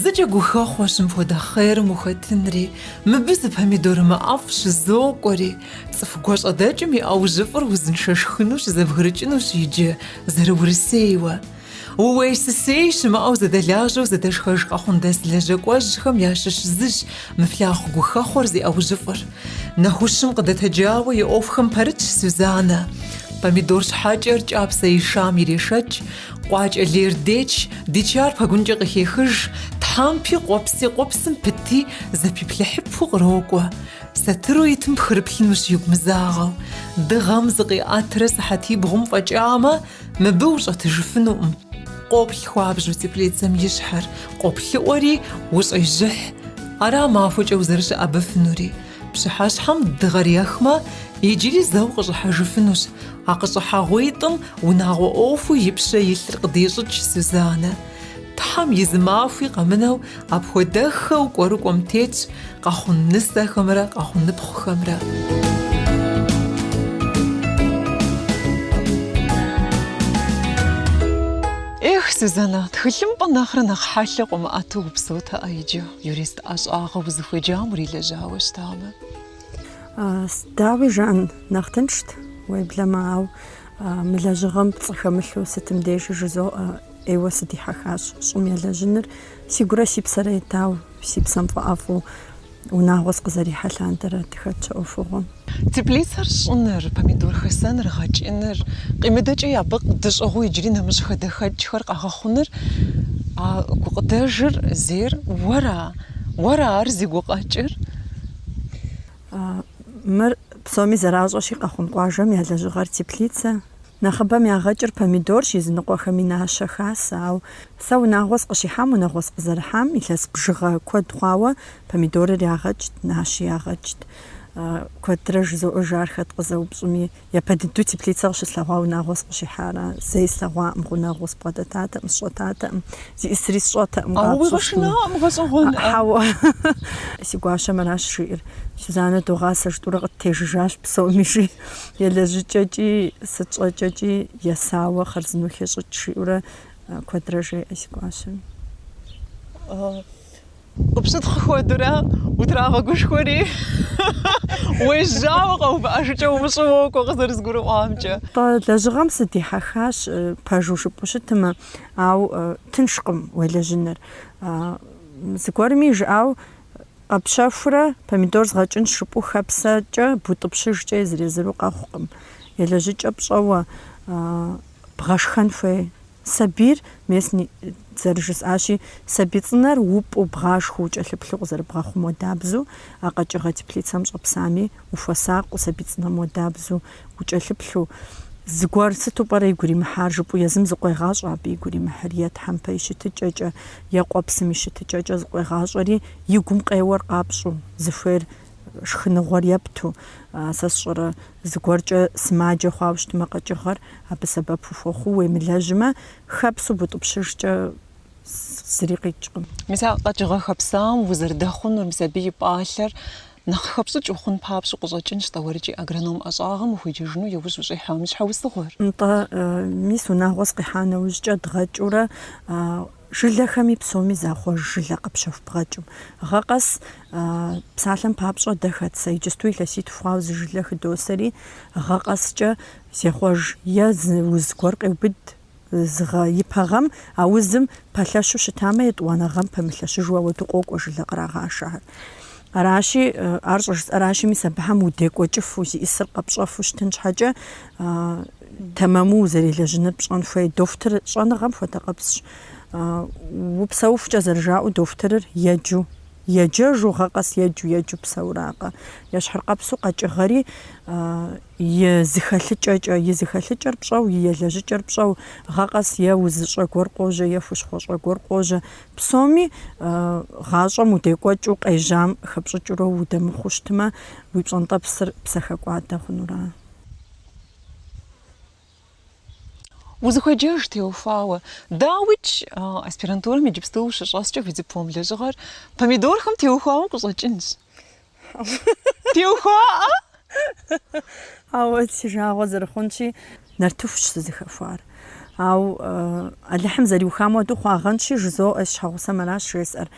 Зыкӏэ гухэхъуэщ мыпхуэдэ хъерым ухэтынри, мыбы зы помидорымэ ӏэфӏ щызокӏуэри. Цӏыху гуащӏэдэкӏым и ӏэужьыфӏыр узыншэ шхыну щызэбгрыкӏынущ иджы, зэрыурысейуэ. Ууей-сысей щымыӏэу зэдэлажьэу зэдэшхэж къэхъундэс лэжьэкӏуэжьхэм ящыщ зыщ мы флъагъу гухэхъуэр зи ӏэужьыфӏыр. Нэхущым къыдэтэджауэ и ӏуэхухэм пэрытщ Сюзаннэ. Помидор щхьэкӏэр кӏапсэ ишам ирешэкӏ, Къуакӏэ лейр деч, дичар пэгункӏэ къыхехыж, тхьэмпи къуэпси къуэпсым пыти, зэпиплъыхьыпу кърокӏуэ. Сатыру итым пхырыплъынущ игу мызагъэу. Дыгъэм зыкъиӏэтрэ сыхьэтибгъум фӏэкӏамэ, мыбы ущӏэтыжыфынукъым. Къоплъ хуабжьу теплицэм и щхьэр къоплъыӏуэри, ущӏежьыхь. Ара махуэкӏэ узэрыщыӏэбэфынури. Пщыхьэщхьэм дыгъэр ехмэ, иджыри зэу къыщӏыхьэжыфынущ. А къыщӏыхьэгъуитӏым унагъуэ ӏуэхуу и пщэ илъыр къыдещӏыкӏ Сюзаннэ. Тхьэм и зы махуи къэмынэу апхуэдэххэу кӏуэрыкӏуэм тетщ къэхъун нысэхэмрэ къэхъуныпхъухэмрэ. Эх, Сюзаннэ, тхылъымпӏэ нэхърэ нэхъ хьэлъэ къыумыӏэту упсэутэкъэ иджы. Юрист ӏэщӏагъэ узыхуеджам урилэжьауэ щытамэ? Дауи жаӏэн, нэхъ тыншт, уеблэмэ, ауэ мы лэжьыгъэм пцӏы хэмылъу сытым дежи жызоӏэ, ӏейуэ сыдихьэхащ щӏым елэжьыныр, сигурэ си псэрэ етауэ, си псэм фӏэӏэфӏу унагъуэ сыкъызэрихьэ лъандэрэ дыхэтщ а ӏуэхугъуэм. Теплицэр щӏыныр, помидор хэсэныр, гъэкӏыныр, къимыдэкӏэ абы дыщӏыгъуу иджыри нэмыщӏ хадэхэкӏхэр къэгъэхъуныр, а гукъыдэжыр зейр уэра? Уэра ар зи гукъэкӏыр? Мыр псоми зэращӏэщи, Къэхъун къуажэм я лэжьыгъэр теплицэ. Нэхъыбэм ягъэкӏыр помидорщ, языныкъуэхэми нащэ хасэ. Ау сэ унагъуэ сыкъыщихьам, унагъуэ сыкъызэрыхьам илъэс бжыгъэ куэд хъуауэ помидорыр ягъэкӏт, нащи ягъэкӏт. Куэдрэ жызоӏэж ар хэт къызэупщӏми. Япэ дыдэу теплицэ къыщыслъэгъуа унагъуэ сыкъыщихьара. Зэи слъэгъуакъым, гъунэгъуу сбгъэдэтатэкъым, сщӏэтатэкъым, зиӏисри сщӏэтэкъым, къапщӏэщ. Ауэ уигъэшынакъым, гъэщӏэгъуэн. Хьэуэ. Си гуащэм аращ жиӏэр. Сюзаннэ догъасэ жытӏурэ къыттежыжащ псоми, жи. Елэжьыкӏэкӏи, сыт щӏэкӏэкӏи есауэ хъарзынэу хещӏыкӏ, жиӏэурэ куэдрэ жеӏэ си гуащэм. Къыпщытхъу хуэдурэ утрагъэгушхуэри, уежьауэ къэувыӏэжыкӏэ умыщӏэу уокӏуэ къызэрызгурыӏуамкӏэ. Тӏэ, лэжьыгъэм сыдихьэхащ, пэжу жыпӏу щытмэ, ау тыншкъым уелэжьыныр. Зыгуэрым и жыӏауэ, къэпщэхурэ помидор згъэкӏынщ жыпӏу хэпсэкӏэ, бутӏыпщыжкӏэ езыр-езыру къэхъукъым. Елэжьыкӏэ пщӏэуэ бгъэшхэн хуей. Сабийр местни зэрыжысӏащи, сабий цӏынэр упӏу, бгъашхуэу, кӏэлъыплъу къызэрыбгъэхъум уэдабзу, а къэкӏыгъэ теплицэм щӏэпсами, ухуэсакъыу, сабий цӏынэм уэдабзу, укӏэлъыплъу. Зыгуэр сыту пӏэрэ игу иримыхьар? жыпӏэу езым зыкъуегъащӏэ абы игу иримыхьыр, е тхьэмпэ и щытыкӏэкӏэ, е къуэпсым и щытыкӏэкӏэ зыкъуегъащӏэри, и гум къеуэр къапщӏу, зыхуейр шхыныгъуэр епту, сэ сщӏэрэ зыгуэркӏэ сымаджэ хъуауэ щытмэ къэкӏыгъэр абы сэбэп ухуэхъуу уемылэжьмэ, хэпсу бутӏыпщыжкӏэ зыри къикӏкъым. Мис а къэкӏыгъэ хэпсауэм узэрыдэхъунур, мис абы и пӏалъэр нэхъ хэпщӏыкӏ ухъун папщӏу къыщӏэкӏынщ тӏэуэрыкӏи агроном ӏэщӏагъэм ухуеджэжыну иужь ущӏихьам и щхьэусыгъуэр. Нтӏэ, мис унагъуэ сыкъихьа нэужькӏэ дгъэкӏыурэ Жылэхэми псоми захъуэж жылэ къэпщэхуу бгъэкӏым. Гъэ къэс псалъэм папщӏэ дэ хэт сэ иджыпсту илъэситху хъуауэ зы жылэ хыдосэри, гъэ къэскӏэ зехъуэж е зы уз гуэр къеубыд зы гъэ ипэ гъэм, а узым пэлъэщу щытамэ, етӏуанэ гъэм пэмылъэщыжу ауэду къокӏуэ жылэ кърагъашэхэр. Аращи, ар щӏыжысӏэращи, мис абыхэм удекӏуэкӏыфу, зиӏысыр къэпщӏэфу щытын щхьэкӏэ, Тэмэму узэрелэжьыныр пщӏэн хуей дохутыр щӏэныгъэм хуэдэкъэпсщ. Упсэухукӏэ зэрыжаӏэу дохутырыр еджу, еджэжу, гъэ къэс еджу, еджу псэуракъэ. Ещхьыркъэпсу къэкӏыгъэри и зыхэлъыкӏэкӏэ, и зыхэлъыкӏэр пщӏэу, и елэжьыкӏэр пщӏэу, гъэ къэс е узыщӏэ гуэр къожьэ, е хущхъуэщӏэ гуэр къожьэ. Псоми гъащӏэм удекӏуэкӏыу къежьам хэпщӏыкӏыурэ удэмыхъуу щытмэ, уи пщӏэнтӏэпсыр псэхэкӏуадэ хъунура. Узыхуеджэж теухуауэ. Дауикӏ, аспирантурэм иджыпсту ущыщӏэскӏэ уи диплом лэжьыгъэр помидорхэм теухуауэ къыщӏэкӏынщ. Теухуаӏэ? Ауэ си жагъуэ зэрыхъунщи, нартыхущ сызыхэхуар. Ауэ Алыхьым зэриухам уэду хъуагъэнщи, жызоӏэ, си щхьэгъусэм аращ жесӏэр.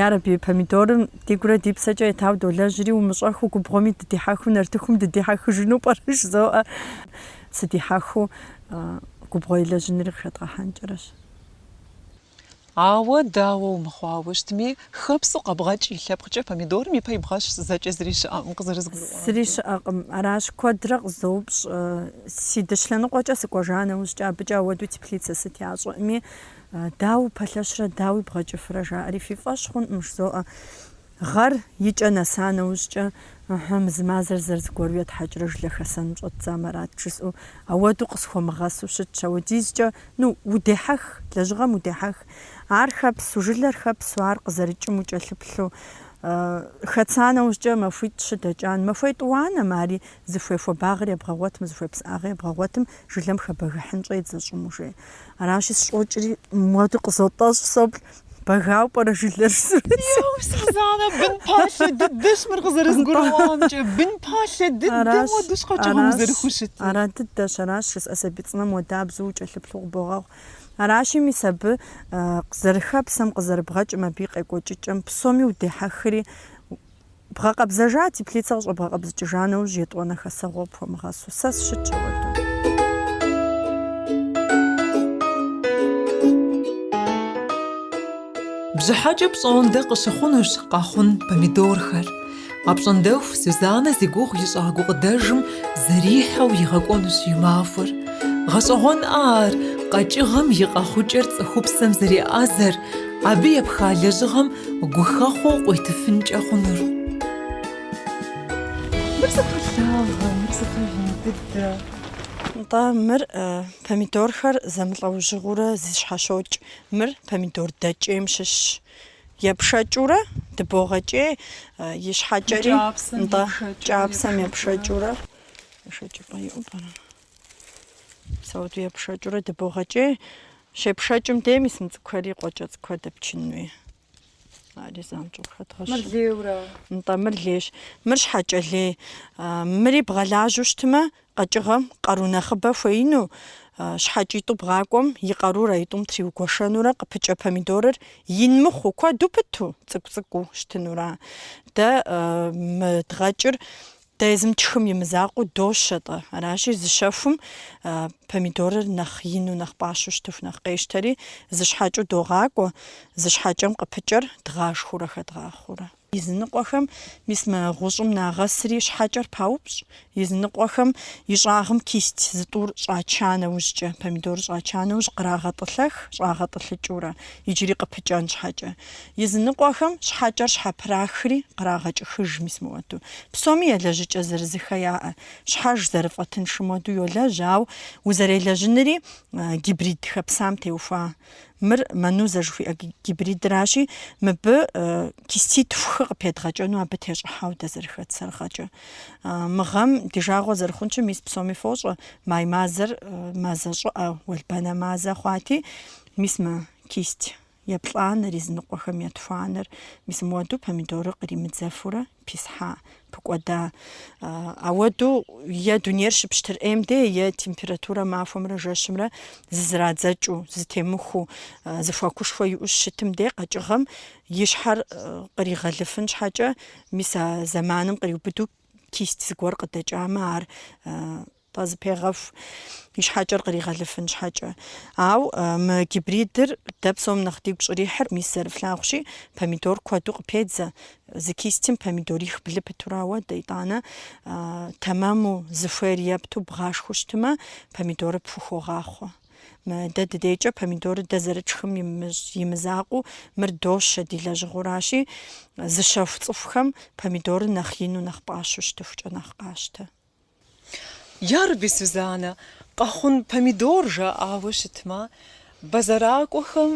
Ярэби, помидорым ди гурэ ди псэкӏэ етауэ долэжьри, умыщӏэхыу губгъуэми дыдихьэхыу, нартыхум дыдихьэхыжыну пӏэрэ жызоӏэ. Сыдихьэхыу губгъуэ елэжьынри къыхэдгъэхьэнкӏэрэщ. Ауэ дауэу мыхъуауэ щытми, хэпсу къэбгъэкӏ и лъэпкъкӏэ помидорым ипэ ибгъэщ, зэкӏэ зыри щыӏэкъым, къызэрызгурыӏуам. Зыри щыӏэкъым, аращ, куэдрэ къызоупщӏ, си дыщ лъэныкъуэкӏэ сыкӏуэжа нэужькӏэ, абыкӏэ ауэдэу теплицэ сыт ящӏэӏыми, дауэ упэлъэщрэ, дауэ бгъэкӏыфрэ жаӏэри фи фӏэщ хъунӏым, жызоӏэ. Гъэр и кӏэ нэса нэужькӏэ, ыхьы, мы зы мазэр зэрызыгуэру етхьэкӏрэ жылэ хэсэным щӏэддзамэ арат жысӏэу, ауэду къысхуэмыгъэсу щытщ. Ауэдизкӏэ, ну, удехьэх, лэжьыгъэм удехьэх. Ар хэпсу, жылэр хэпсу, ар къызэрыкӏым укӏэлъыплъу. Хэтса нэужькӏэ махуитӏ щыдэкӏам, махуэ етӏуанэм ари зыхуей хуабагъыр ебгъэгъуэтмэ, зыхуей псыӏагъыр ебгъэгъуэтым, жылэм хэбэгыхьын щӏедзэ щӏым ужей. Аращи, сыщӏокӏри, муэду къызотӏэщӏ, соплъ. Бэгауэ пӏэрэ жылэр Еу, Сузанэ, бын палъэ дыдэщ мыр къызэрызгурыӏуамкӏэ. Бын палъэ дыдэм уэ къэкӏыгъэм узэрыхущытыр. Ара дыдэщ, аращ жысӏэ сабий цӏынэм уэдабзэу укӏэлъыплъу къыбогъэхъу. Аращи, мис абы зэрыхэпсэм, къызэрыбгъэкӏым, абы и къекӏуэкӏыкӏэм псоми удехьэхри, Бгъэкъэбзэжа, теплицэ къыщӏэбгъэкъэбзыкӏыжа нэужь етӏуанэ хэсэгъуэ къыпхуэмыгъэсу, сэ сыщытщ ауэду. Бжьыхьэкӏэ пщӏондэ къыщыхъунущ Къэхъун помидорхэр. Апщӏондэху Сюзанэ зи гугъу ищӏа гукъыдэжым зэрихьэу игъэкӏуэнущ и махуэр. Гъэщӏэгъуэнкъэ ар, къэкӏыгъэм и къэхъукӏэр цӏыхупсэм зэреӏэзэр, абы епха лэжьыгъэм гухэхъуэу къуитыфынкӏэ хъунур. Мыр сыту лъагэ, мыр сыту ин дыдэ! Нтӏэ, мыр помидорхэр зэмылӏэужьыгъуэурэ зыщхьэщокӏ. Мыр помидор дэкӏейм щыщщ. Епшэкӏыурэ дыбогъэкӏей, ищхьэкӏэри, нтӏэ, кӏапсэм епшэкӏыурэ. Ешэкӏыпӏэ иӏэу пӏэрэ? Ауэду епшэкӏурэ дыбогъэкӏей. Щепшэкӏым дей мис мы цӏыкӏухэри къуэкӏэ цӏыкӏухэр дэпчын хуей. Ари занщӏэу Мыр хэдгъэщӏ. лейуэ ара? Нтӏэ, мыр лейщ. Мыр щхьэкӏэ лей. А, Мыри бгъэлажьэу щытмэ, къэкӏыгъэм къару нэхъыбэ хуеину, а, щхьэкӏитӏу бгъакӏуэм и къарур а тӏум тригуэшэнурэ къыпыкӏэ помидорыр ин мыхъуу, куэду пыту, цӏыкӏу-цӏыкӏуу щытынура. Дэ, а, мы дгъэкӏыр Дэ езым тшхым и мызакъуэу дощэ-тӏэ. Аращи, зы щэхум помидорыр нэхъ ину, нэхъ пӏащэу щытыху, нэхъ къещтэри, зы щхьэкӏэу догъакӏуэ, зы щхьэкӏэм къыпыкӏэр дгъашхэурэ хэдгъахъуэурэ. Языныкъуэхэм мис мы гъущӏым нагъэсри щхьэкӏэр паупщӏ. Языныкъуэхэм и щӏагъым кисть зытӏур щӏача нэужькӏэ, помидорыр щӏача нэужь, кърагъэтӏылъэх щӏагъэтӏылъыкӏыурэ, иджыри къыпыкӏэн щхьэкӏэ. Языныкъуэхэм щхьэкӏэр щхьэпрахри кърагъэкӏыхыж, мис мыуэду. Псоми елэжьыкӏэ зырызыххэ яӏэ. Щхьэж зэрыфӏэтыншым уэду йолэжь, ауэ узэрелэжьыныри гибрид хэпсам теухуа. Мыр манузэ жыхуиӏэ гибридращи, мыбы киститху къыпедгъэкӏэну абы тещӏыхьэу дэ зэрыхэтсэр гъэкӏэ. Мы гъэм ди жагъуэ зэрыхъунщи, мис псоми фощӏэ, май мазэр мазэ щӏыӏэ, уэлбанэ мазэ хъуати, мис мы кисть Еплӏанэр, е зыныкъуэхэм я тхуанэр, мис мыуэду помидорыр къримыдзэфурэ писхьа, пыкӏуэда. Ауэду е дунейр щыпщтыр ӏейм де, е температурэ махуэмрэ жэщымрэ зызэрадзэкӏыу, зытемыхуу, зыхуэкушхуэ иӏэу щытым де къэкӏыгъэм и щхьэр къригъэлыфын щхьэкӏэ, мис а зэманым къриубыду кисть зыгуэр къыдэкӏамэ, ар къэзыпегъэху и щхьэкӏэр къригъэлыфын щхьэкӏэ. Ау мы гибридыр дэ псом нэхъ дигу щӏрихьыр, мис зэрыфлъагъущи, помидор куэду къыпедзэ. Зы кистим помидорих блы пытурауэ, дэ итӏанэ тэмэму зыхуейр епту бгъашхыу щытымэ, помидоры пхухогъахъуэ. Дэ дыдейкӏэ помидоры дэ зэрытшхым имызакъуу, мыр дощэ ди лэжьыгъэуращи, зыщэху цӏыхухэм помидоры нэхъ ину, нэхъ пӏащэу щытыхукӏэ нэхъ къащтэ. Ярэби, Сюзанэ, Къэхъун помидор жаӏауэ щытмэ, бэзэракӏуэхэм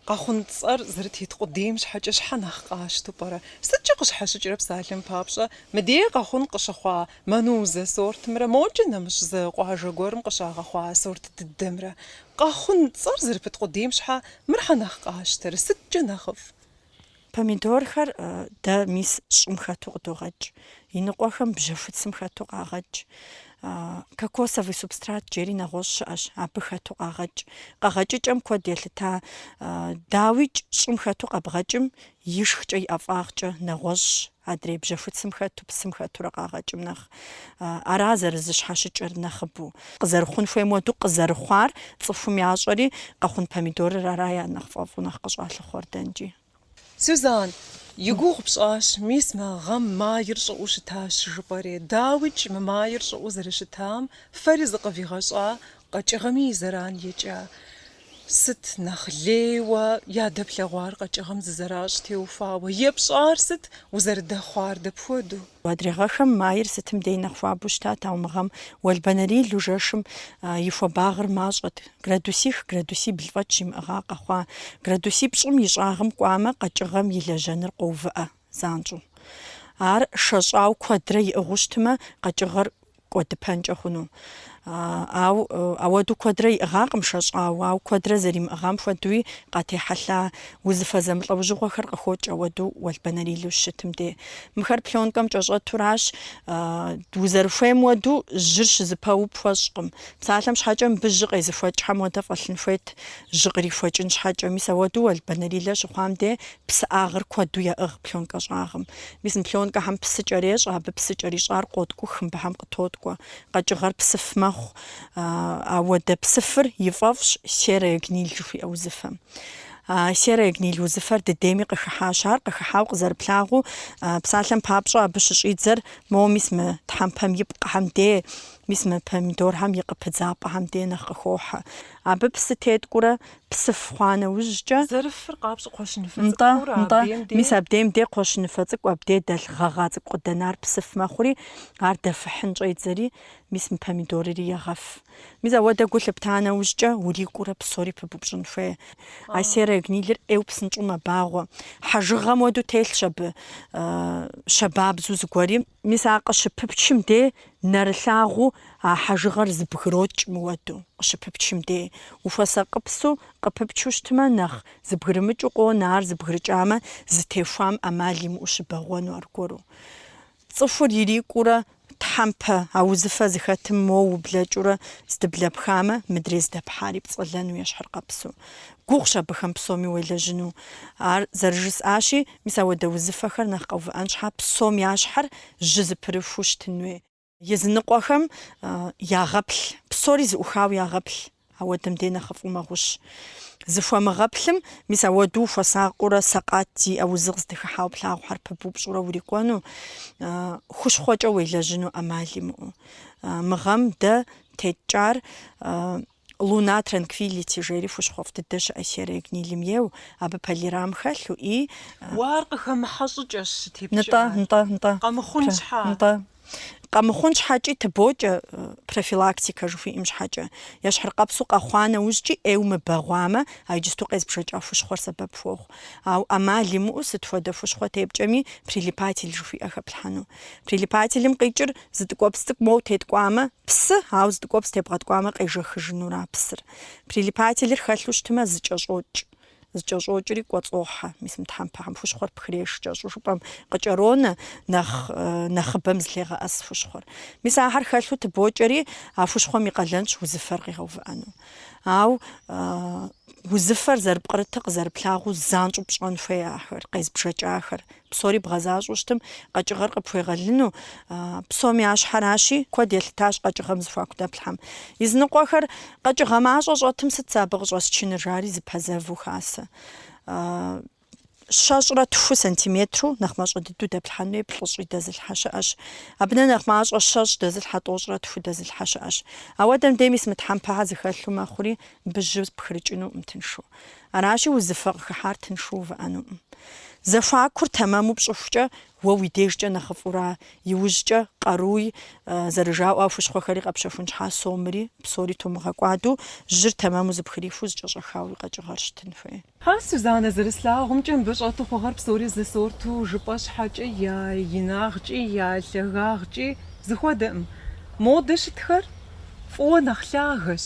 Къэхъун цӏэр зэрытет къудейм щхьэкӏэ щхьэ нэхъ къащту пӏэрэ? Сыткӏэ къыщхьэщыкӏрэ псалъэм папщӏэ, мыдей Къэхъун къыщыхъуа Манузэ сортымрэ мокӏэ нэмыщӏ зы къуажэ гуэрым къыщагъэхъуа сорт дыдэмрэ? Къэхъун цӏэр зэрыпыт къудейм щхьэ мыр щхьэ нэхъ къащтэрэ? Сыткӏэ нэхъыфӏ? Помидорхэр дэ мис щӏым хэту къыдогъэкӏ, иныкъуэхэм бжьэхуцым хэту къагъэкӏ, кокосовый субстрат жери нэгъуэщӏ щыӏэщ, абы хэту къагъэкӏ. Къэгъэкӏыкӏэм куэд елъыта, дауикӏ, щӏым хэту къэбгъэкӏым и шхыкӏэ и ӏэфӏагъкӏэ нэгъуэщӏщ, Адрей бжьэхуцым хэту псым хэтурэ къагъэкӏым нэхъ, ара зэрызыщхьэщыкӏыр нэхъыбэу. Къызэрыхъун хуейм уэду къызэрыхъуар цӏыхум ящӏэри, Къэхъун помидорыр ара я нэхъ фӏэфӏу, нэхъ къыщӏалъыхъуэр дэнкӏи. Сюзан, и гугъу пщӏащ, мис мы гъэм майр щӏыӏэу щытащ жыпӏэри. Дауикӏ, мы майр щӏыӏэу зэрыщытам фэри зыкъывигъэщӏа къэкӏыгъэми и зэран екӏа. Сыт нэхъ лейуэ ядэплъэгъуар къэкӏыгъэм зызэращӏ теухуауэ? Епщӏар сыт, узэрыдэхъуар дапхуэдэу? Адрей гъэхэм майр сытым дей нэхъ хуабэу щытат, ауэ мы гъэм уэлбанэрилу жэщым и хуабагъыр мащӏэт. Градусих градусибл фӏэкӏ щимыӏыгъа къэхъуа. Градусипщӏым и щӏагъым кӏуамэ, къэкӏыгъэм и лэжьэныр къоувыӏэ. занщӏэу. Ар шэщӏау куэдрэ иӏыгъыу щытмэ, къэкӏыгъэр кӏуэдыпэнкӏэ хъуну. Ау ауэду куэдрэ иӏыгъакъым шэщӏау, ау куэдрэ зэримыӏыгъам хуэдуи къатехьэлъа, узыфэ зэмылӏэужьыгъуэхэр къыхокӏ ауэду уэлбанэрилу щытым де. Мыхэр плёнкэм кӏэщӏэтуращ, узэрыхуейм уэду жьыр щызыпэу пхуэщӏкъым. Псалъэм щхьэкӏэ мыбы жьы къезыхуэкӏхэм уэдэ фӏэлъын хуейт, жьы кърихуэкӏын щхьэкӏэ. Мис ауэду уэлбанэрилэ щыхъуам де Псыӏагъыр куэду яӏыгъ пленкэ щӏагъым. Мис мы пленкэхэм псы кӏэрещӏэ, абы псы кӏэрищӏар къоткӏух, мыбыхэм къытоткӏуэ. Къэкӏыгъэр псыф мэхъу. Ауэдэ псыфыр и фӏэфӏщ серая гниль жыхуиӏэ узыфэм. А серая гниль узыфэр дыдейми къыхыхьащ. Ар къыхыхьауэ къызэрыплъагъуу, псалъэм папщӏэ абы щыщӏидзэр, моуэ мис мы тхьэмпэм и пкъыхэм де, мис мы помидорхэм и къыпыдзапӏэхэм де нэхъ къыхохьэ. Абы псы теткӏурэ псыф хъуа нэужькӏэ, Зэрыфыр къапщӏ кхъуэщыныфэ Нтӏэ, цӏыкӏур нтӏэ, абдеем де. мис абдеем де кхъуэщыныфэ цӏыкӏу абдей дэлъ гъэгъа цӏыкӏу къыдэнар псыф мэхъури, ар дэфыхьын щӏедзэри, мис мы помидорри егъэф. Мис ауэдэ гу лъыпта нэужькӏэ, урикӏуурэ псори пыбупщӏын хуей. А серая гнилыр ӏейу псынщӏу мэбагъуэ. Хьэжыгъэм уэду телъщ абы щабабзу зыгуэри. Мис ар къыщыпыпчым дей нэрылъагъуу а хьэжыгъэр зыбгрокӏ мыуэду. Къыщыпыпчым дей ухуэсакъыпсу къыпыпчу щытмэ, нэхъ зыбгрымыкӏыу къонэ, ар зыбгрыкӏамэ, зытехуам ӏэмал имыӏэу щыбэгъуэну аргуэру. Цӏыхур ирикӏуурэ тхьэмпэ, а узыфэ зыхэтым моуэ ублэкӏыурэ здыблэпхамэ, мыдрей здэпхьари пцӏэлэну ещхьыркъэпсу. Гугъущ абыхэм псоми уелэжьыну. Ар зэрыжысӏащи, Мис ауэдэ узыфэхэр нэхъ къэувыӏэн щхьа псом я щхьэр жьы зыпырыхуу щытын хуей? Языныкъуэхэм ягъэплъ, псори зыӏухауэ ягъэплъ, ауэдэм дей нэхъыфӏу мэгъущ. Зыхуэмыгъэплъым, мис ауэду ухуэсакъыурэ сэкъат зиӏэ узыгъуэ здыхыхьауэ плъагъухэр пыбупщӏурэ урикӏуэну, хущхъуэкӏэ уелэжьыну ӏэмал имыӏэу. Мы гъэм дэ теткӏар. Луна Транквилити жери хущхъуэфӏ дыдэ щыӏэ серая гнилым ейу, абы полирам хэлъу и... Уэ ар къыхэмыхьэ щӏыкӏэщ щытепкӏар. Нтӏэ, нтӏэ, нтӏэ. Къэмыхъун щхьа? Нтӏэ. Къэмыхъун щхьэкӏи тыбокӏэ, профилактикэ жыхуиӏэм щхьэкӏэ. Ещхьыркъэпсу къэхъуа нэужькӏи ӏейуэ мыбэгъуамэ, а иджысту къезбжэкӏа хущхъуэр сэбэп хуохъу. Ауэ ӏэмал имыӏэу сыт хуэдэ хущхъуэ тепкӏэми прилипатель жыхуиӏэ хэплъхьэну. Прилипателым къикӏыр зы ткӏуэпс цӏыкӏу моу теткӏуамэ, Псы, ауэ зы ткӏуэпс тебгъэткӏуамэ къежэхыжынура псыр. Прилипателыр хэлъу щытмэ зыкӏэщӏокӏ. Зыкӏэщӏокӏри кӏуэцӏохьэ. Мис мы тхьэмпэхэм хущхъуэр пхреш кӏэщӏу жыпӏэм къыкӏэронэ нэхъ нэхъыбэм зылъегъэӏэс хущхъуэр. Мис ахэр хэлъу тыбокӏэри а хущхъуэм и къалэнщ узыфэр къигъэувыӏэну. Ауэ узыфэр зэрыпкърытыр къызэрыплъагъуу занщӏэу пщӏэн хуей ахэр, къезбжэкӏахэр, Псори бгъэзащӏэу щытым, къэкӏыгъэр къыпхуегъэлыну псом я щхьэращи, куэд елъытащ къэкӏыгъэм зыхуаку дэплъхьэм. Языныкъуэхэр къэкӏыгъэ мащӏэ щӏэтым сыт сэ абы къыщӏэсчыныр, жари зыпэзэву хасэ. Щэщӏрэ тху сантиметру нэхъ мащӏэ дыдэу дэплъхьэн хуей плӏыщӏи дэзылъхьэ щыӏэщ. Абынэ нэхъ мащӏэ щэщӏ дэзылъхьэ тӏощӏрэ тху дэзылъхьэ щыӏэщ. Ауэдэм дей мис мы тхьэмпэхэр зыхэлъу мэхъури, абы жьы пхырыкӏынукъым тыншу. Аращи, узыфэ къыхыхьар тыншу увыӏэнукъым. Зэхуакур тэмэму пщӏыхукӏэ, уэ уи дежкӏэ нэхъыфӏура? Иужькӏэ къаруи зэрыжаӏуэ а хущхъуэхэри къэпщэхун щхьа, сомри, псори тумыгъэкӏуаду, жьыр тэмэму зыпхриху зыкӏэщӏэхауэ уи къэкӏыгъэр щытын хуей. А Сузанэ, зэрыслъагъумкӏэ, мыбы щӏэту хъугъэр псори зы сорту, жыпӏэ щхьэкӏэ я инагъкӏи, я лъагагъкӏи зыхуэдэкъым. Модэ щытхэр фӏыуэ нэхъ лъагэщ.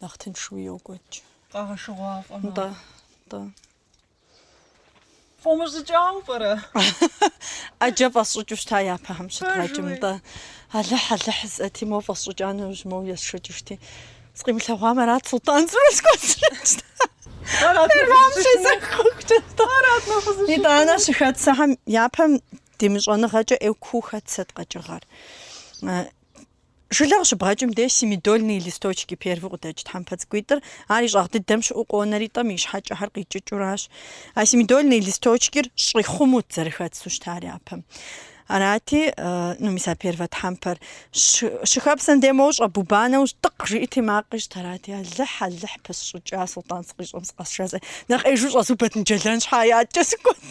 нэхъ тыншыуи йокӏуэкӏ. Къагъэшыгъуафӏэ мэхъу. Нтӏэ, нтӏэ. Фӏумыщӏыкӏауэ пӏэрэ? ӏэджэ фӏэсщӏыкӏыу щыта япэхэм щыдгъэкӏым, нтӏэ. Алыхь, Алыхь жысӏэти, моуэ фӏэсщӏыкӏа нэужь моуэ есшэкӏыжти. Сыкъимылъэгъуам арат Султӏан цӏыху схуэсщӏыкӏ. Арат Фермам нэхъ щезэхуэкӏэ, нтӏэ. Арат нэхъ узыщытыр. Итӏанэ щыхэтсэхэм япэм ди мыщӏэныгъэкӏэ ӏейу куу хэтсэт къэкӏыгъэр. Э, Жылэ къыщыбгъэкӏым деж семядольные листочки первый къыдэкӏ тхьэмпэ цӏыкӏуитӏыр, ар и щӏагъ дыдэм щыӏэу къонэри тӏэм и щхьэкӏэхэр къикӏыкӏыуращ. А семядольные листочкир щӏихъумут зэрыхэтсу щытар япэм. Арати, ну, мис а первэ тхьэмпэр щыхэпсэм де моуэ щӏэбуба нэужь тӏыкъ жиӏэти макъ ищӏт. Арати, Алыхь, Алыхь, пысщӏыкӏа, Султӏан сыкъищӏэм сыкъэсшэзэ, нэхъ ӏейжу щӏэзубэт мыджэлэн щхьэкӏэ сыкӏуэт.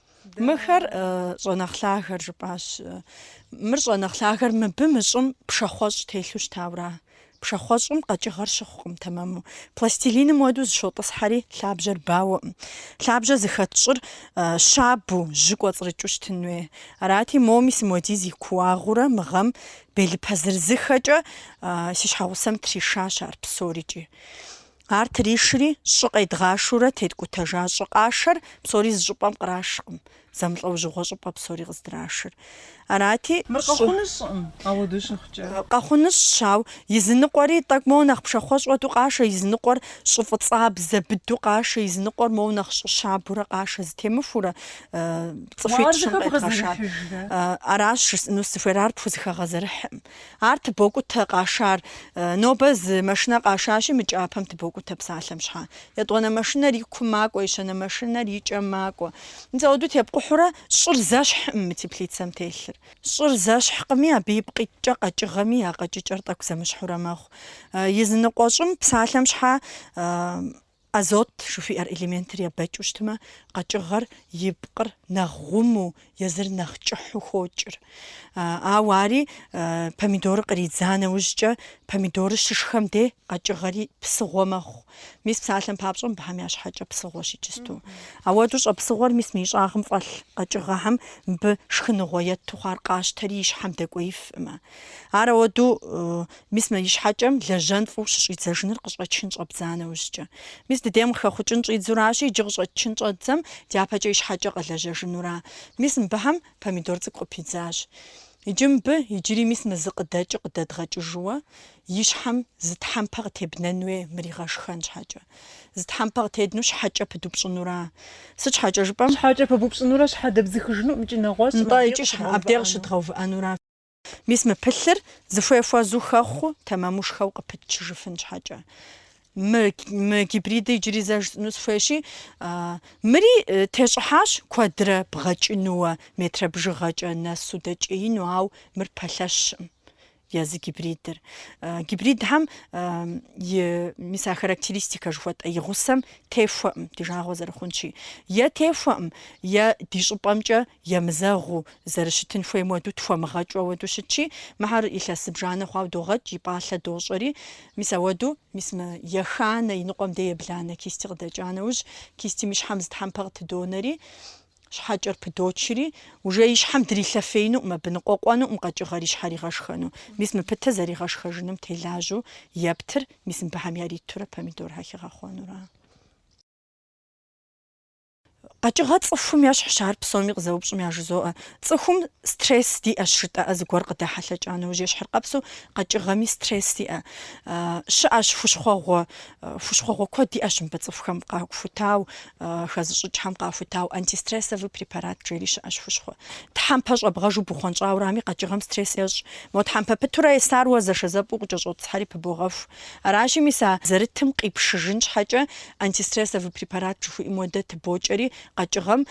Мыхэр щӏэ нэхъ лъагэр жыпӏащ. Мыр щӏэ нэхъ лъагэр мыбы мы щӏым пшахъуэщӏ телъу щытаура? Пшахъуэщӏым къэкӏыгъэр щыхъукъым тэмэму. Пластилиным уэду зыщотӏысхьэри лъабжьэр бауэкъым. Лъабжьэр зыхэт щӏыр щабу, жьы кӏуэцӏрыкӏыу щытын хуей. Арати, мо мис моуэдиз и кууагъыурэ мы гъэм белыпэ зырызыххэкӏэ си щхьэгъусэм тришащ ар псорикӏи. Ар тришри, щӏы къедгъашурэ теткӏутэжа щӏы къашэр псори зы щӏыпӏэм кърашкъым, зэмылӏэужьыгъуэ щӏыпӏэ псори къыздрашыр. Арати, Мыр щӏы. Къэхъуну щӏыӏым, ауэду щыхъукӏэ. Къэхъунущ, ауэ езыныкъуэри тӏэкӏу моуэ нэхъ пшахъуэщӏ уэду къашэ, езыныкъуэр щӏы фӏыцӏабзэ быду къашэ, езыныкъуэр моуэ нэхъ щӏы щабурэ къашэ, зытемыхурэ цӏыхуитӏ-щым къедгъэшар. Аращ жысӏэну сыхуейр, ар пхузыхэгъэзэрыхькъым. Ар тыбокӏутэ къашар. Нобэ зы машинэ къашащи, мы кӏапэм тыбокӏутэ псалъэм щхьэ. Етӏуанэ машинэр и кум макӏуэ, ещанэ машинэр и кӏэм макӏуэ. Мис ауэдэу тепкъухьурэ, щӏыр зэщхькъым мы теплицэм телъыр. Щӏыр зэщхькъыми, абы ипкъ иткӏэ къэкӏыгъэми я къэкӏыкӏэр тӏэкӏу зэмыщхьурэ мэхъу. Езыныкъуэ щӏым псалъэм щхьэ. Азот жыхуиӏэр элементыр ебэкӏыу щытмэ, къэкӏыгъэр и пкъыр нэхъ гъуму, езыр нэхъ кӏыхьу хокӏыр. Ауэ ари помидорыр къридза нэужькӏэ, помидорыр щышхэм де къэкӏыгъэри псыгъуэ мэхъу. Мис псалъэм папщӏэ мыбыхэм я щхьэкӏэ псыгъуэщ иджысту. Ауэду щӏэ псыгъуэр мис мы и щӏагъым фӏэлъ къэкӏыгъэхэм мыбы шхыныгъуэ ету хъуар къащтэри и щхьэм дэкӏуеифкъым. Ар ауэду Мис мы и щхьэкӏэм лэжьэн фӏыу щыщӏидзэжыныр къыщӏэчын щӏэбдза нэужькӏэ. Мис дыдейм къыхэхъукӏын щӏидзуращи, иджы къыщӏэчын щӏэддзэм дяпэкӏэ и щхьэкӏэ къэлэжьэжынура? Мис мыбыхэм помидор цӏыкӏу къыпидзащ. Иджы мыбы, иджыри мис мы зы къыдэкӏыр къыдэдгъэкӏыжууэ, и щхьэм зы тхьэмпэ къытебнэн хуей мыр игъэшхэн щхьэкӏэ. Зы тхьэмпэ къытедну щхьэкӏэ пыдупщӏынура? Сыт щхьэкӏэ жыпӏэм? Щхьэкӏэ пыдупщӏынурэ щхьэ дэбзыхыжыну икӏи щхьэ абдей къыщыдгъэувыӏэнура? Мис мы пылъыр зыхуей хуэзу хэхъуу, тэмэмушхэу къыпытчыжыфын щхьэкӏэ. Мы, мы гибридыр иджыри зэ жысӏыну схуейщи, а, мыри э, тещӏыхьащ куэдрэ бгъэкӏынууэ, метрэ бжыгъэкӏэ нэсу дэкӏеину, ау мыр пэлъэщкъым езы гибридыр. А, гибридхэм а, и, мис а характеристикэ жыхуэтӏэ и гъусэм техуэкъым, ди жагъуэ зэрыхъунщи. Е техуэкъым, е ди щӏыпӏэмкӏэ Емызэгъыу, зэрыщытын хуейм уэду тхуэмыгъэкӏыу ауэду щытщи, мыхьэр илъэс зыбжанэ хъуау догъэкӏ, и пӏалъэ дощӏэри, мис ауэду, мис мы еханэ, и ныкъуэм де ебланэ кисти къыдэкӏа нэужь, кистим и щхьэм зы тхьэмпэ къытыдонэри, щхьэкӏэр пыдочри, уже и щхьэм дрилъэфеинукъым абы, ныкъуэкъуэнукъым къэкӏыгъэр и щхьэр игъэшхэну, мис мы пытэ зэригъэшхэжыным телажьэу ептыр, мис мыбыхьэм яритурэ помидорхьэ хигъэхъуэнура. Къэкӏыгъэ цӏыхум ещхьщ ар псоми къызэупщӏым яжызоӏэ. Цӏыхум стресс диӏэщ жытӏэӏэ зыгуэр къыдэхьэлъэкӏа нэужь ещхьыркъэпсу къэкӏыгъэми стресс иӏэ. Щыӏэщ хущхъуэгъуэ, хущхъуэгъуэ куэд иӏэщ мыбы цӏыхухэм къахутау, хэзыщӏыкӏхэм къахутау антистрессовый препарат жери щыӏэщ хущхъуэ. Тхьэмпэ щӏэбгъэжу бухъуэнщӏаурами къэкӏыгъэм стресс ещӏ. Мо тхьэмпэ пытурэ есар уэ зэшэзэпӏэу къыкӏэщӏотӏысхьэри пыбогъэху. Аращи, мис а зэрытым къипшыжын щхьэкӏэ антистрессовый препарат жыхуиӏэм уэдэ тыбокӏэри, къэкӏыгъэм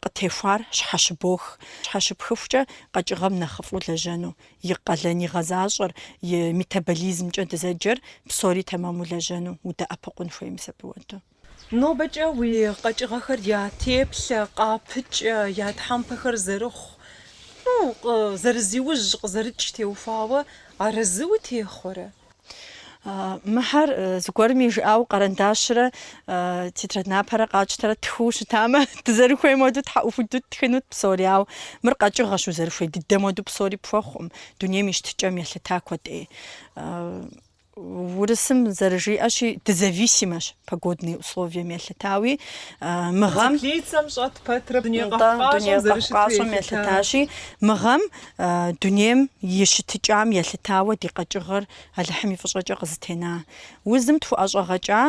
къытехуар щхьэщыбох. Щхьэщыпхыхукӏэ къэкӏыгъэм нэхъыфӏу лэжьэну, и къалэн игъэзащӏэр, и метаболизмкӏэ дызэджэр псори тэмэму лэжьэну удэӏэпыкъун хуей мис абы уэду. Нобэкӏэ уи къэкӏыгъэхэр я теплъэ, къапыкӏэ, я тхьэмпэхэр зэрыхъу, ну, зэрызиужь, къызэрыкӏ теухуауэ арэзы утехъуэрэ? Мыхьэр зыгуэрми жыӏауэ къэрэндащрэ тетрадь напэрэ къатщтэрэ тхыу щытамэ, дызэрыхуейм уэду тхьэӏухуду ттхынут псори, ауэ мыр къэкӏыгъэщ, узэрыхуей дыдэм уэду псори пхуэхъукъым, дунейм и щытыкӏэм елъыта куэд ӏей. Урысым зэрыжиӏэщи, дызависимэщ погодные условием елъытауи. Мы гъэм теплицэм щӏэт пэтрэ дуней къэхъукъащӏэм елъытащи, мы гъэм дунейм и щытыкӏам елъытауэ ди къэкӏыгъэр Алыхьым и фӏыщӏэкӏэ къызытена. Узым тхуэӏэщӏэгъэкӏа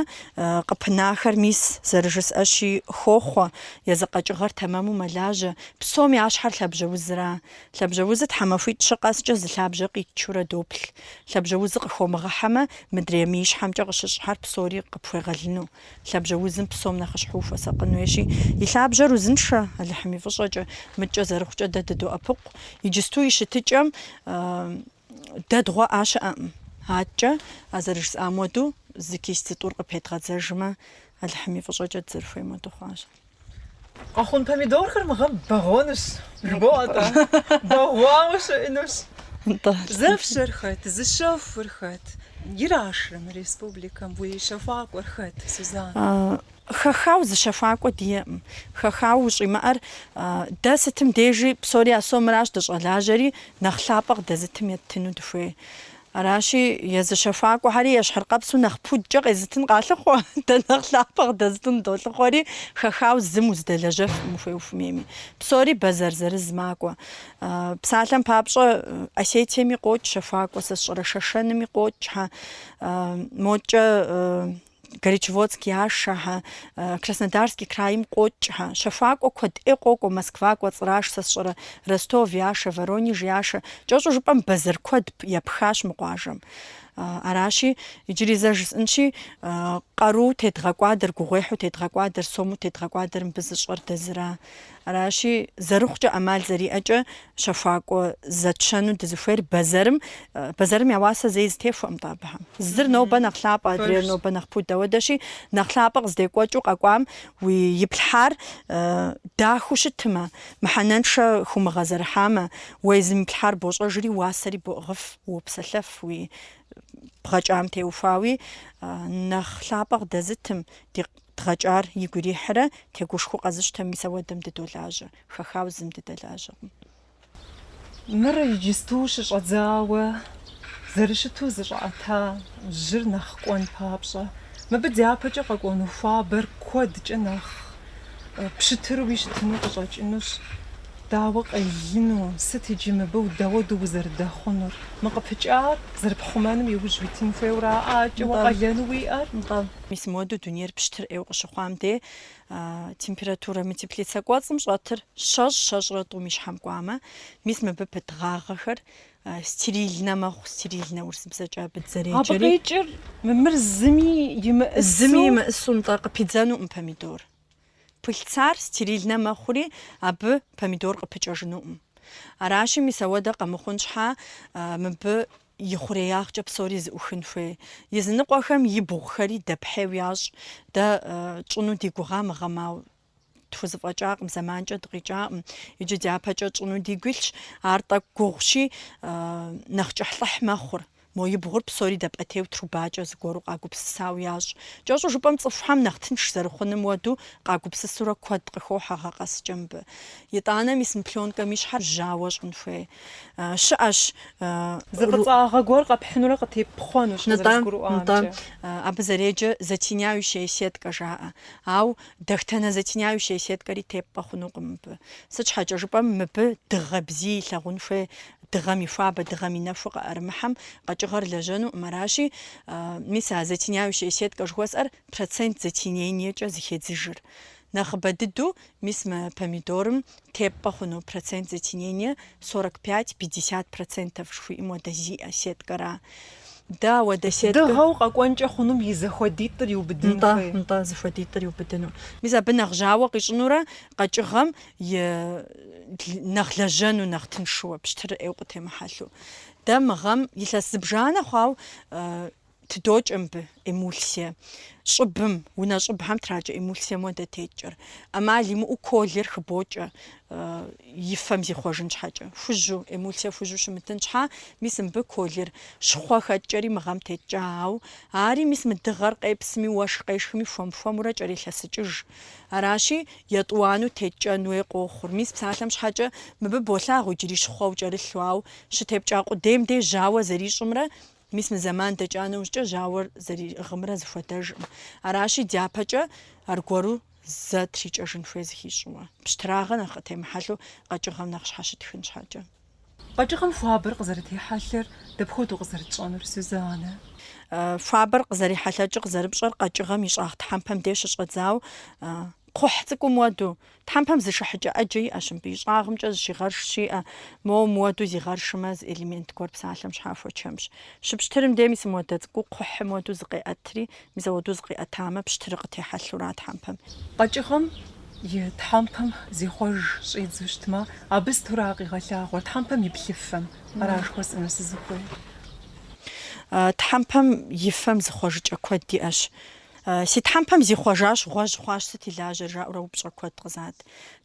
къыпынахэр мис, зэрыжысӏэщи, хохъуэ, езы къэкӏыгъэр тэмэму мэлажьэ, псом я щхьэр лъабжьэ узра. Лъабжьэузыр тхьэмахуитӏ щы къэскӏэ зы лъабжьэ къитчурэ доплъ. Лъабжьэузыр къыхомыгъыхьэмэ, мыдрей мы и щхьэмкӏэ къыщыщӏхэр псори къыпхуегъэлыну. Лъабжьэузым псом нэхъыщхьэу ухуэсакъын хуейщи, и лъабжьэр узыншэ, Алыхьым и фӏыщӏэкӏэ. Мыдкӏэ зэрыхъукӏэ дэ дыдоӏэпыкъу. Иджысту и щытыкӏэм Дэдгъуэӏа щыӏэкъым. Аткӏэ, а зэрыжысӏам хуэдэу, зы кисть зытӏур къыпедгъэдзэжмэ, Алыхьым и фӏыщӏэкӏэ дызэрыхуейм хуэдэу хъуащ. Къэхъун помидорхэр мы гъэм бэгъуэнущ, жыбоӏэ атӏэ? Бэгъуауэ щыӏэнущ. Зэфщэр хэт, зыщэхур хэт? Ирашрэ мы республикэм, уи щэхуакӏуэр хэт, Сузан? Хэхау зы щэхуакӏуэ диӏэкъым. Хэхау ущӏимыӏэр дэ сытым дежи псори а сомыращ дыщӏэлажьэри, нэхъ лъапӏэ къыдэзытым еттыну дыхуей. Аращи, езы щэхуакӏуэхэри ещхьыркъэпсу нэхъ пудкӏэ къезытын къалъыхъуэ, дэ нэхъ лъапӏэ къыдэзытын долъыхъуэри, хэхау зым узыдэлэжьэфкъым ухуей ухуимейми. Псори бэзэр зырыз макӏуэ. Псалъэм папщӏэ, Осетиеми къокӏ щэхуакӏуэ, сэ сщӏэрэ Шэшэными къокӏхэ, мокӏэ Горячеводск яшэхэ, Краснодарский крайм къокӏхэ, щэхуакӏуэ куэд ӏей къокӏуэ, Москва кӏуэцӏраш, сэ сщӏэрэ, Ростов яшэ, Воронеж яшэ, кӏэщӏу жыпӏэм бэзэр куэд епхащ мы къуажэм. Аращи, иджыри зэ жысӏынщи, къару тедгъэкӏуадэр, гугъуехьу тедгъэкӏуадэр, сому тедгъэкӏуадэр мыбы зыщӏэр дэ зыра? Аращи, зэрыхъукӏэ ӏэмал зэриӏэкӏэ щэхуакӏуэ зэтщэну дызыхуейр бэзэрым, бэзэрым я уасэ зэи зэтехуэкъым-тӏэ абыхэм. Зыр нобэ нэхъ лъапӏэ, адрейр нобэ нэхъ пуд, ауэдэщи, нэхъ лъапӏэ къыздекӏуэкӏыу къэкӏуам уэ иплъхьар дахэу щытымэ, мыхьэнэншэ хумыгъэзэрыхьамэ, уэ езым иплъхьар бощӏэжри, уасэри боӏыгъыф, уопсэлъэф, уэ бгъэкӏам теухуауи нэхъ лъапӏэ къыдэзытым, ди Дгъэкӏар игу ирихьрэ, тегушхуэу къэзыщтэм и сэуэдэм дыдолажьэ, хэхауэ зым дыдэлажьэкъым. Мыр иджысту щыщӏэдзауэ зэрыщыту зыщӏэӏэта жьыр нэхъ кӏуэн папщӏэ, мыбы дяпэкӏэ къэкӏуэну хуабэр куэдкӏэ нэхъ пщытыруи щытыну къыщӏэкӏынущ. Дауэ къелыну, сыт иджы мыбы дауэду узэрыдэхъунур? Мы къыпыкӏар зэрыпхъумэным иужь уитын хуейуэ ара ӏэкӏэ уэ къалэну уиӏэр? Мис моду дунейр пщтыр ӏейуэ къыщыхъуам де, температурэ мы теплицэ кӏуэцӏым щӏэтыр щэщӏ, щэщӏрэ тӏум и щхьэм кӏуамэ, мис мыбы пыт гъагъэхэр стерильнэ мэхъу, стерильнэ урысыбзэкӏэ абы дызэреджэри. Абы къикӏыр мымыр зыми имыщӏысу? Зыми имыщӏысу, нтӏэ, къыпидзэнукъым помидор. Пыльцар стерильнэ мэхъури, абы помидор къыпыкӏэжынукъым. Аращи, мис ауэдэ къэмыхъун щхьа, мыбы ихъуреягъкӏэ псори зыӏухын хуей. Языныкъуэхэм и бгъухэри дэпхьейу ящӏ. Дэ тщӏыну ди гугъа мы гъэм, ауэ тхузыфӏэкӏакъым, зэманкӏэ дыкъикӏакъым. Иджы дяпэкӏэ тщӏыну дигу илъщ. Ар тӏэкӏу гугъущи, нэхъ кӏыхьлӏыхь мэхъур. Мо и бгъур псори дэпӏэтейу трубакӏэ зыгуэру къагупсысау ящӏ. Кӏэщӏу жыпӏэм цӏыхухьэм нэхъ тынш зэрыхъуным уэду къагупсысурэ куэд къыхохьэ гъэ къэскӏэ мыбы. Итӏанэ мис мы плёнкэм и щхьэр жьауэ щӏын хуей щыӏэщ. Зы фӏыцӏагъэ гуэр къэпхьынурэ къытепхъуэнущ, къызэрызгурыӏуамкӏэ. Нтӏэ, нтӏэ. Абы зэреджэ затеняющая сетка жаӏэ. Ау дэтхэнэ затеняющая сеткэри тепӏэ хъунукъым мыбы. Сыт щхьэкӏэ жыпӏэм мыбы дыгъэ бзий илъагъун хуей Дыгъэм и хуабэ, дыгъэм и нэху къыӏэрымыхьэм къэкӏыгъэр лэжьэнукъым. Аращи, мис а затеняющая сеткэ жыхуэсӏэр процент затенениекӏэ зыхедзыжыр. Нэхъыбэ дыдэу, мис мы помидорым тепӏэ хъуну процент затенение сорок пять, пятьдесят процентов жыхуиӏэм уэдэ зиӏэ сеткэра. Дэ ауэдэ сеткэ. Дыгъэу къэкӏуэнкӏэ хъунум и зэхуэдитӏыр иубыдын хуей. Нтӏэ, нтӏэ, зыхуэдитӏыр иубыдыну. Мис абы нэхъ жьауэ къищӏынурэ къэкӏыгъэм е нэхъ лэжьэну, нэхъ тыншыуэ, пщтыр ӏейу къытемыхьэлъу. Дэ мы гъэм илъэс зыбжанэ хъуау тыдокӏэ мыбы эмульсие. Щӏыбым, унэ щӏыбхэм тракӏэ эмульсием уэдэ теткӏэр. ӏэмал имыӏэу колер хыбокӏэ и фэм зихъуэжын щхьэкӏэ. Хужьу, эмульсие хужьу щымытын щхьа, мис мыбы колер щхъуэ хэткӏэри мы гъэм теткӏа. Ауэ ари мис мы дыгъэр къепсми, уэшх къешхми, хуэм-хуэмурэ кӏэрелъэсыкӏыж. Аращи, етӏуанэу теткӏэн уей къохъур. Мис псалъэм щхьэкӏэ мыбы болъагъу иджыри щхъуэу кӏэрылъу, ауэ щытепкӏа къудейм деж жьауэ зэрищӏымрэ, мис мы зэман дэкӏа нэужькӏэ жьауэр зэригъымрэ зыхуэдэжкъым. Аращи, дяпэкӏэ аргуэру зэ трикӏэжын хуей зыхищӏыуэ, пщтырагъэ нэхъ къытемыхьэлъэу къэкӏыгъэм нэхъ щхьэщытхын щхьэкӏэ. Къэкӏыгъэм хуабэр къызэрытехьэлъэр дапхуэдэу къызэрытщӏэнур, Сюзанэ? Хуабэр къызэрихьэлъэкӏыр къызэрыпщӏэр къэкӏыгъэм и щӏагъ тхьэмпэм деж щыщӏэдзау кхъухь цӏыкӏум уэду. Тхьэмпэм зышыхьыкӏэ ӏэджэ иӏэщ мыбы, и щӏагъымкӏэ зыщигъэрш щиӏэ, моуэ мыуэду зигъэршымэ, зы элемент гуэр псалъэм щхьа хуэчэмщ. Щыпщтырым дей мис мыуэдэ цӏыкӏуу кхъухьым уэду зыкъеӏэтри, Мис ауэду зыкъиӏэтамэ, пщтырыр къытехьэлъура тхьэмпэм? Къэкӏыгъэм и тхьэмпэм зихъуэж щӏидзу щытмэ, абы сытыра къигъэлъагъуэр тхьэмпэм и плъыфэм ара жыхуэсӏэну сызыхуейр? Тхьэмпэм и фэм зыхъуэжыкӏэ куэд иӏэщ. Си тхьэмпэм зихъуэжащ, гъуэжь хъуащ, сыт и лажьэр? жаӏэурэ упщӏэ куэд къызат.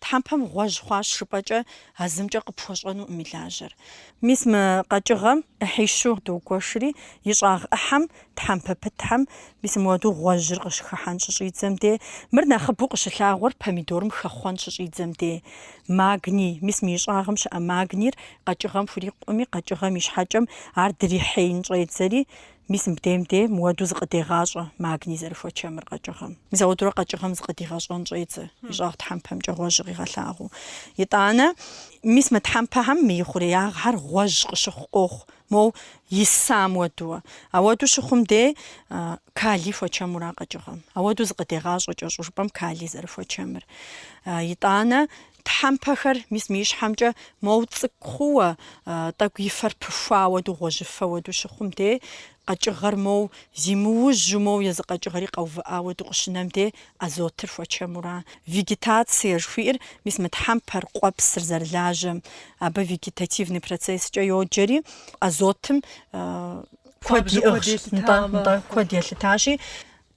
Тхьэмпэм гъуэжь хъуащ жыпӏэкӏэ, а зымкӏэ къыпхуэщӏэнукъым и лажьэр. Мис мы къэкӏыгъэм ӏыхьищу догуэшри, и щӏагъ ӏыхьэм Тхьэмпэ пытхэм мис мыуэду гъуэжьыр къыщыхыхьэн щыщӏидзэм дей, мыр нэхъыбэу къыщылъагъуэр помидорым хэхъуэн щыщӏидзэм дей. Магний, мис мы и щӏагъым щыӏэ магнийр къэкӏыгъэм хурикъукъыми, къэкӏыгъэм и щхьэкӏэм ар дрихьеин щӏедзэри, мис мыбдейм дей мыуэду зыкъыдегъащӏэ магний зэрыхуэчэмыр къэкӏыгъэм. Мис ауэдурэ къэкӏыгъэм зыкъыдигъэщӏэн щӏедзэ, и щӏагъ тхьэмпэмкӏэ гъуэжьыр къигъэлъагъуу. Итӏанэ, мис мы тхьэмпэхэм мы и хъуреягъхэр гъуэжь къыщыхъу къохъу, Моу мис мыуэду. Ауэду щыхъум де калий хуэчэмура къэкӏыгъэм. Ауэду зыкъыдегъащӏэ кӏэщӏу жыпӏэм калий зэрыхуэчэмыр. Итӏанэ тхьэмпэхэр мис мы и щхьэмкӏэ моу цӏыкӏу хъууэ, тӏэкӏу и фэр пыхуа ауэду, гъуэжьыфэ ауэду щыхъум де, къэкӏыгъэр моу зимыужьу, моу езы къэкӏыгъэри къэувыӏа ауэду къыщынэм де, Азотыр хуэчэмура. Вегетация жыхуиӏэр мис мы тхьэмпэр, къуэпсыр зэрылажьэм, абы вегетативный процесскӏэ йоджэри, азотым куэд иӏыгъщ, нтӏэ, нтӏэ, куэд елъытащи,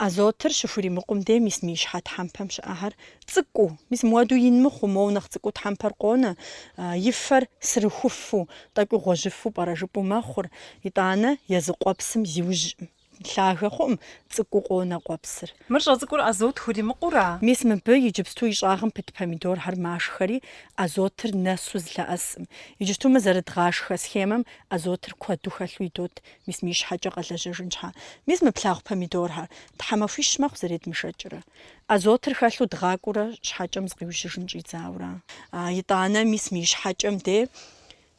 азотыр щыхуримыкъум де мис мы и щхьэ тхьэмпэм щыӏэхэр цӏыкӏуу, мис муэду ин мыхъуу, моуэ нэхъ цӏыкӏуу тхьэмпэр къонэ, и фэр сырыхуфу, тӏэкӏуу гъуэжьыфу пӏэрэ жыпӏэу мэхъур, итӏанэ езы къуэпсым зиужьӏым. Лъагэ хъуӏым цӏыкӏуу къонэ къуэпсыр. Мыр щӏэцӏыкӏур азот хуримыкъура. Мис мыбы иджыпсту и щӏагъым пыт помидорхэр машхэри, азотыр нэсу зылъэӏэсӏым. Иджыпсту мы зэрыдгъашхэ схемэм азотыр куэду хэлъу идот, мис мы и щхьэкӏэ къэлэжьэжын щхьа. Мис мы плъагъу помидорхэр тхьэмахуищ мэхъу зэредмышэкӏрэ. Азотыр хэлъу дгъакӏуурэ щхьэкӏэм зыкъиужьыжын щӏидзаура. Итӏанэ мис мы и щхьэкӏэм де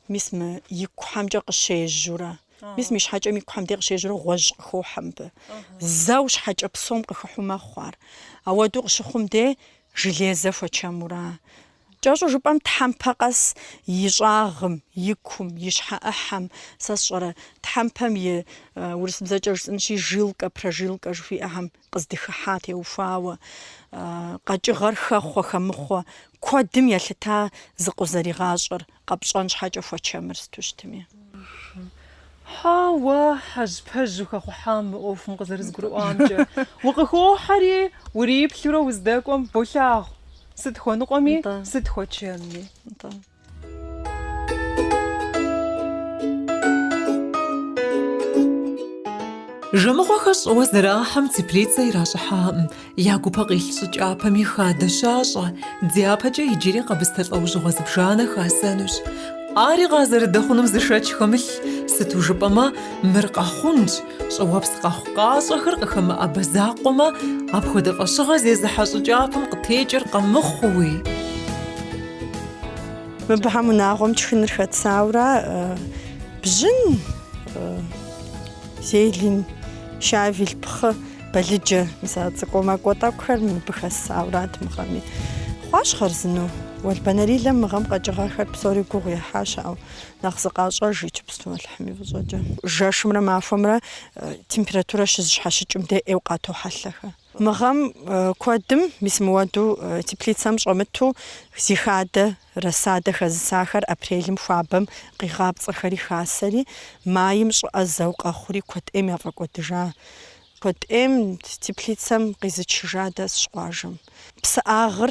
Мис мы и кухэмкӏэ къыщежьурэ, мис мы и щхьэкӏэм и кухэм де къыщежьурэ гъуэжь къыхохьэ мыбы. Зэу щхьэкӏэ псом къыхыхьу мэхъу ар. Ауэдэу къыщыхъум де железэ хуэчэмура. Кӏэщӏу жыпӏэм тхьэмпэ къэс и щӏагъым, и кум, и щхьэ ӏыхьэм, сэ сщӏэрэ, тхьэмпэм и, урысыбзэкӏэ жысӏэнщи, жилкэ, прожилкэ жыхуиӏэхэм къыздыхыхьа теухуауэ, къэкӏыгъэр хэхъуэ-хэмыхъуэ куэдым елъыта зыкъузэригъащӏэр къэпщӏэн щхьэкӏэ хуэчэмыр сыту щытми. Хьэуэ, хьэжьпэжьу хэхъухьам мы ӏуэхум къызэрызгурыӏуамкӏэ укъыхохьэри, уриплъурэ уздэкӏуэм болъагъу, сыт хуэныкъуэми, сыт хуэчэмми. Жэмыхъуэхэр щӏыуэ зэрахьэм теплицэ иращӏыхьакъым. Я гупэ къилъ щӏы кӏапэми хадэ щащӏэ, дяпэкӏэ иджыри къэбыстэ лӏэужьыгъуэ зыбжанэ хасэнущ. Ари къазэрыдэхъунум зы шэч хэмылъ, сыту жыпӏэмэ, мыр Къэхъунщ, щӏыуэпс къэхъукъащӏэхэр къыхэмыӏэбэ закъуэмэ, апхуэдэ фӏэщыгъэ зезыхьэ щӏы кӏапэм къытекӏыр къэмыхъууи. Мыбыхьэм унагъуэм тшхыныр хэтсаура бжьын, зелень, щавель, пхъы, балыджэ мис а цӏыкӏуэ макӏуэ тӏэкӏухэр мыбы хэссаурат мы гъэми. Хъуащ хъарзыну. Уэлбанэрилэм мы гъэм къэкӏыгъэхэр псори гугъу ехьащ, ауэ нэхъ зыкъащӏэж иджыпсту Алыхьым и фӏыщӏэкӏэ. Жэшымрэ махуэмрэ температурэ щызыщхьэщыкӏым дей ӏейуэ къатохьэлъэхэ. Мы гъэм куэдым, мис мыуэду теплицэм щӏэмыту, зи хадэ рассадэ хэзысахэр апрелым хуабэм къигъапцӏэхэри хасэри, майм щӏыӏэ зэу къэхъури куэд ӏейм яфӏэкӏуэдыжа. Куэд ӏейм теплицэм къизычыжа дэсщ къуажэм. Псыӏагъыр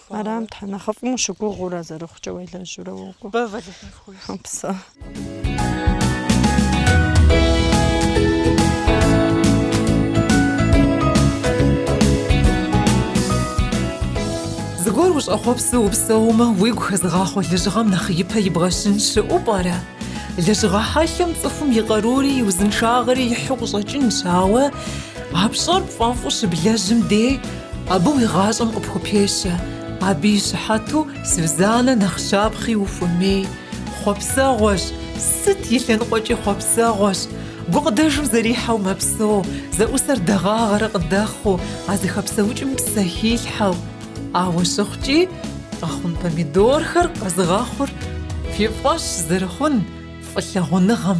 Арам Тхьэ нэхъыфӏым ущыгугъыурэ зэрыхъукӏэ уелэжьурэ уокӏуэ. Бэв Алыхьым пхуищӏ. Упсэу. Зыгуэр ущӏэхъуэпсу упсэумэ, уигу хэзыгъахъуэ лэжьыгъэм нэхъ ипэ ибгъэщын щыӏэу пӏэрэ? Лэжьыгъэ хьэлъэм цӏыхум и къарури и узыншагъэри ихьу къыщӏэкӏынщ, ауэ а пщӏэр пфӏэфӏу щыблэжьым дей Абы уи гъащӏэм къыпхупещэ, абы и щыхьэту Сюзаннэ нэхъ щапхъи ухуэмей. Хъуэпсэгъуэщ, сыт и лъэныкъуэкӏи хъуэпсэгъуэщ. Гукъыдэжым зэрихьэу мэпсэу, зэӏусэр дэгъагъэрэ къыдэхъуу, а зыхэпсэукӏым псэ хилъхьэу. Ауэ щыхъукӏи, къэхъун помидорхэр къэзыгъэхъур фи фӏэщ зэрыхъун фӏылъагъуныгъэм.